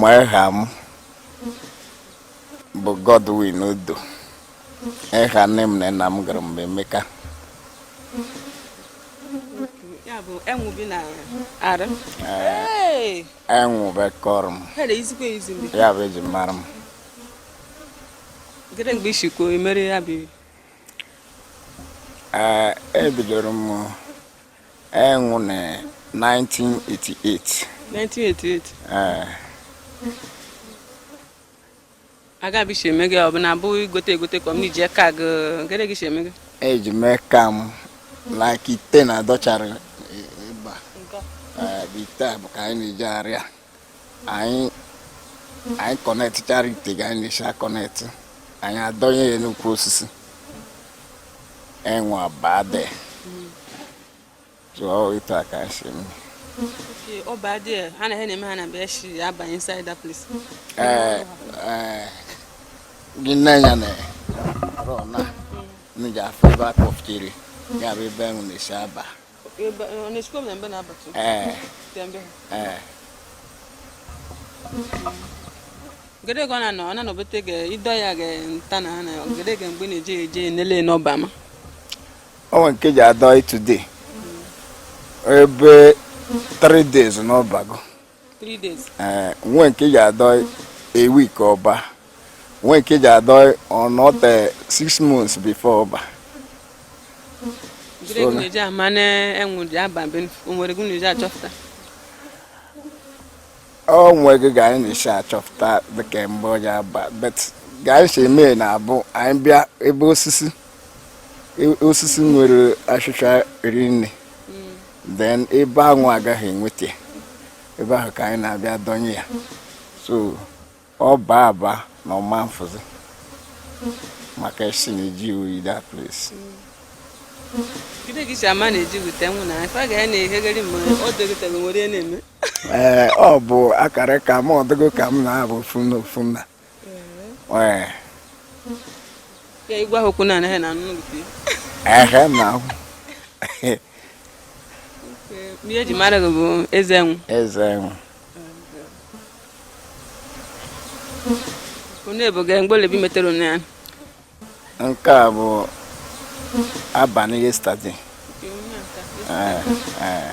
ma eha m bụ Godwin Odo eha nne m na nna m gụrụ m bụ Emeka enwụ bụ eka ọrụ m ya bụ eji mara m ee ebidoro m enwụ na 1988 1988 ee aga bụ isi eme gị ọ bụ na abụ igote egote ka ọ m na iji aka gị gịnị gị si eme gị eji m eka m like ite na dọchara ịba ite a bụ ka anyị na-eji arịa anyị anyị connectchara ite ga anyị na-esi connect anyị adọnye ya n'ukwu osisi enwụ abade tụọ ịta aka si m ee ee gị nee ya na rọ na n'ị ji afụ ebe akpọfụchiri ya bụ ebe enwụ na-esi aba gede ka ọ na-anọ ọ na-anọbete ga ịdọ ya ga nta na ha na gede ga mgbe na-eje eje nele n'ọba ma ọ nwee nke ji adọ today ebe 3 days n'ọ bago ee eh, nwee nke ji adọ a week ọ baa nwee nke ji adọ ọ nọte eh, six months before ọ baa ọ nwegị ga anyị na-esi achọpụta dịka mgbe ọ ji aba but ga anyị si eme na-abụ anyị bịa ebe osisi e, osisi nwere ashịshịa rinne then ebe anwụ agaghị enweta ebe ahụ ka anyị na-abịa dọnye ya so ọ baa aba na ọ ma-afụzi maka esi na-ejụ oyi that place ee ọ bụ akara ka m ọdụgo ka m na-abụ ofu na ofu na Ee. Ya igwe ahụ okwu na anaghị na anụ gị. Ehe na ahụ. Ihe eji mara gị bụ eze enwụ. Eze enwụ. Onye bụ gị mgbe ole bụ ị metere onye ya? Nke a bụ abanị yesterday. Ee. Ee.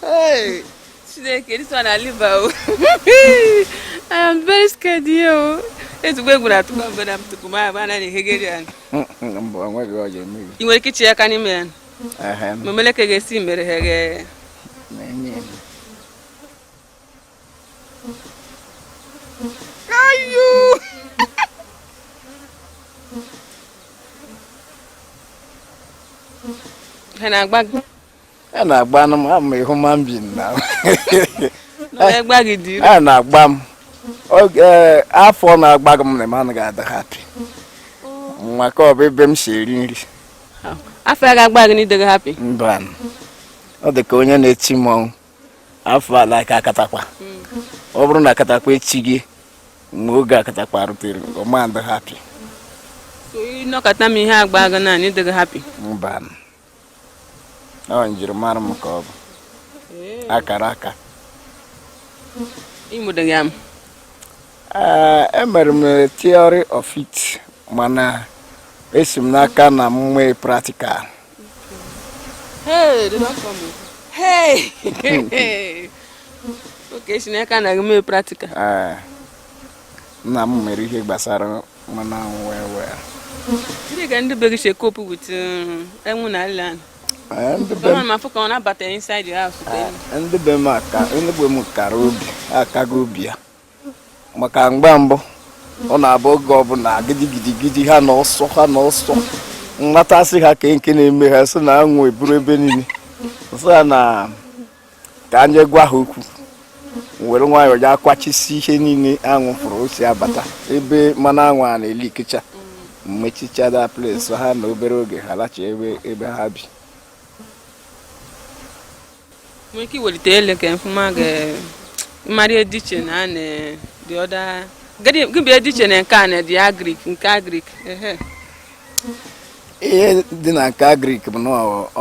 Hey! Chineke, this one na live o. I am very scared here. Ezigbo egwu na-atụ m mgbe na m tupu m abụ anaghị ehegeri ya. Mba, o nweghị ọ ga-eme gị. I nwere ike ichi aka n'ime ya. Mee m lee ka ị ga-esi mere ha ghe. ha na-agba gị a na-agba nụ m I'm a human being na a na-agba m oge afọ na-agbaghị m na m anaghị adị happy maka ọ bụ ebe m si eri nri afọ ya ga-agba gị ị dịghị happy mba ọ dị ka onye na-eti mmọnwụ afọ like akatakpa ọ bụrụ na akatakpa echighị mgbe oge akatakpa rutere ọ ma adị happy ị nọkata ma ihe agbaghị gị na ị dịghị happy mba ọ njirimara m ka ọ bụ akara aka ị mụdị ya amụ emere m theory of it mana esi m n'aka nna m mee practical Hey, they don't come. Hey! hey. okay, si n'aka nna gị mee practical. Ah. Nna m mere ihe gbasara mmanụ anwụ wee wee. Ndị ga ndị be gị si e-cope with enwu na ala ahụ. Ndị be m afụ ka ọ na-abata inside your house. Ndị be m ka ndị be m kara obi akago obi ya. maka mgbe mbụ ọ na-abụ oge ọbụla gidigidigidi ha na ọsọ ha na ọsọ mmatasị ha ka nke na-eme ha sị na anwụ eburu ebe niile sị ha na ka anyị gwa ha okwu were nwayọọ ya akwachisi ihe niile anwụ fụrụ o si abata ebe mmanụ anwụ a na-eli ikecha m mechichaa that place ahụ na obere oge ha lachi ebe ha bi nwere ike iwelite elu ka m fụ ma m ga-ama ihe dị iche na ya na the other gịnị dị iche na nke a na the agric nke agric ihe dị na nke agric bụ na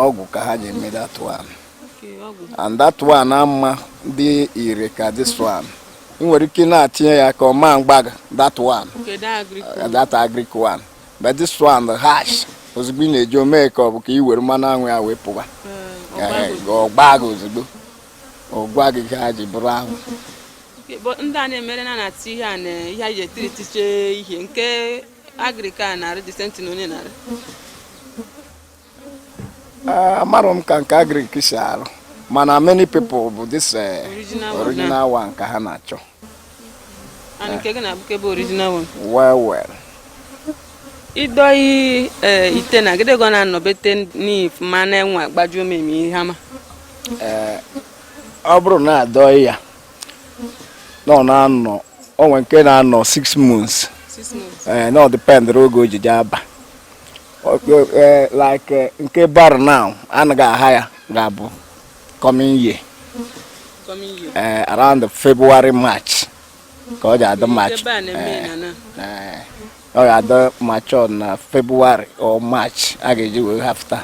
ọgwụ ka ha ji eme that one and that one ama adị ire ka this one ị nwere ike na-etinye ya aka ọ ma agba gị that one that agric one but this one dị harsh ozugbo ị na-eje o mee ka ọ bụ ka i were mmanụ anwụ ya wee pụwa ọ gbaa gị ozugbo ọ gwa gị ka ha ji bụrụ anwụ ndị a na-emere na na-atụ ihe a na ihe anyị ji etiri tiche ihe nke agric a na-arụ the same thing na onye na-arụ Eh, amarọ m ka nke agrik si arụ mana many people bụ this eh, original one ka ha na-achọ well well i doyi eh, ite na gịdị gọ na-anọbete n'if ma na-enwe agbajuo m eme ihe ama ọ bụrụ na a doyi ya na ọ na-anọ o nwe nke na-anọ 6 months na ọ dependịrị oge o ji aba Eh, like eh, nke barụ now anyị ga aha ya ga-abụ coming year eh, around February March ka ọ ga-adị March ọ ga-adị mature na February or March a ga-eji wee harvest ya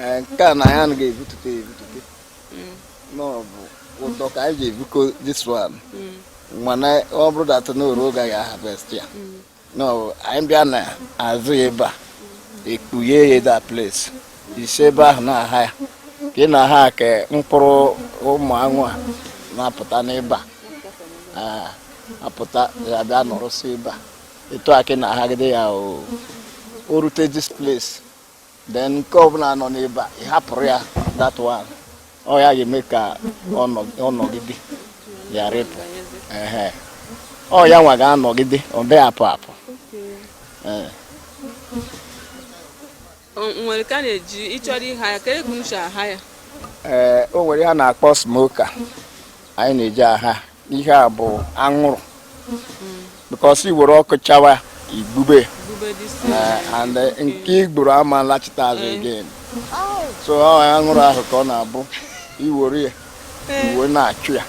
Eh, nke a na anyị anaghị ebutute ebutute mm. na ọ bụ ụdọ ka anyị ji ebuko this one mm. mana ọ bụrụ that na o ru oge a ga harvest ya mm. na ọ bụ anyị bịa na azụ ya ebe a ekpughe ya that place i si ebe ahụ na-aha ya ka ị na-aha ka mkpụrụ ụmụ anwụ a na-apụta n'ebe a ah. apụta ga-abịa nọrọsị ebe a etu a ka ị na-ahagide ya o rute this place then nke ọbụla nọ n'ebe a ị hapụrụ ya that one ọ ya ga-eme ka ọ nọgide ghara ịpụ ọ ya nwa ga-anọgide ọ bịa apụ apụ nwere ka a na-eji ị chọrọ ịha ya ka ego nche aha ya ee o nwere ihe a na-akpọ smoker anyị na-eji aha ihe a bụ anwụrụ because i were ọkụ chawa i gbube ha and eh, nke i gburu ama alachita azụ eh. again so anwụrụ ahụ ka ọ na-abụ i were ya eh. i were na-achụ ya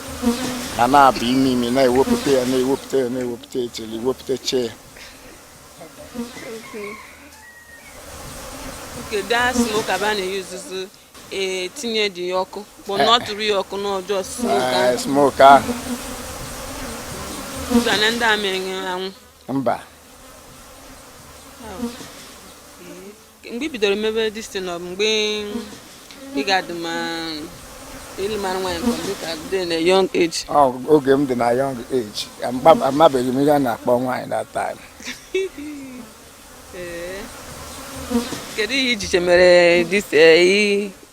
ka na-abụ ime ime na-ewepụta ya na-ewepụta ya na-ewepụta ya till i wepụtachaa ya oke that smoker bụ a na-eyuzuzu e tinye dị ya ọkụ bụ na ọ tụrụ ya ọkụ n'ọjọọ smoke ahụ. smoke ahụ Ụzọ na ndị a mere anwụ mba mgbe i bidoro mebe this thing ọ bụ mgbe ị ga-adị ma ịlụ mara nwaanyị ka ọ mgbe ị ka dị na young age Ọ, oge m dị na young age ama- amabeghị m ihe a na-akpọ nwaanyị that time Ee. kedu ihe i ji che mere this eh, i-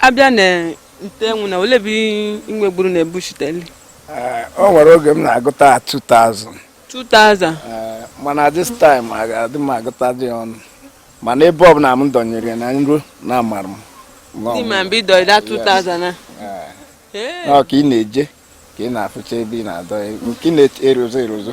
a bịa na ite enwu na ole bụ i nwegburu na ebuchiteli eh, o nwere oge m na-agụta 2000 2000 eh, mana this time adị m agụta dị ọnụ mana ebe ọbụla m dọnyere na nro na amara m dị ma ebe ị dọ that 2000 na eh. ọ ka ị na-eje ka ị na-afụcha ebe ị na-adọ nke na-erozo erozo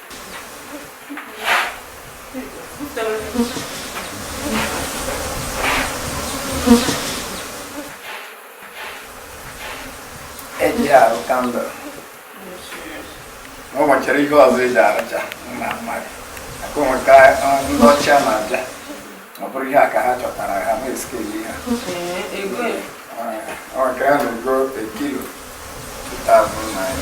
eji arụ kandụl o nwechara ihe ọzọ eji arụcha na mmadụ aka onwe ka ndị ọcha na-abịa ọ bụrụ ihe a ka ha chọtara ha na-eskeli ha ọ nke ha na-ego a kilo 2000 naira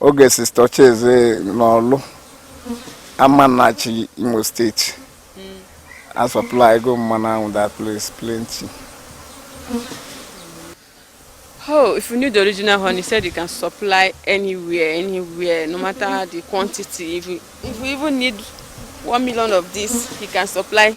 oge sista Ocheze n'ọlụ Amanachi Imo steeti a supply go mmanụ ahụ that place plenty Oh, if you need the original honey, said you can supply anywhere, anywhere, no matter the quantity. If you, if you even need one million of this, you can supply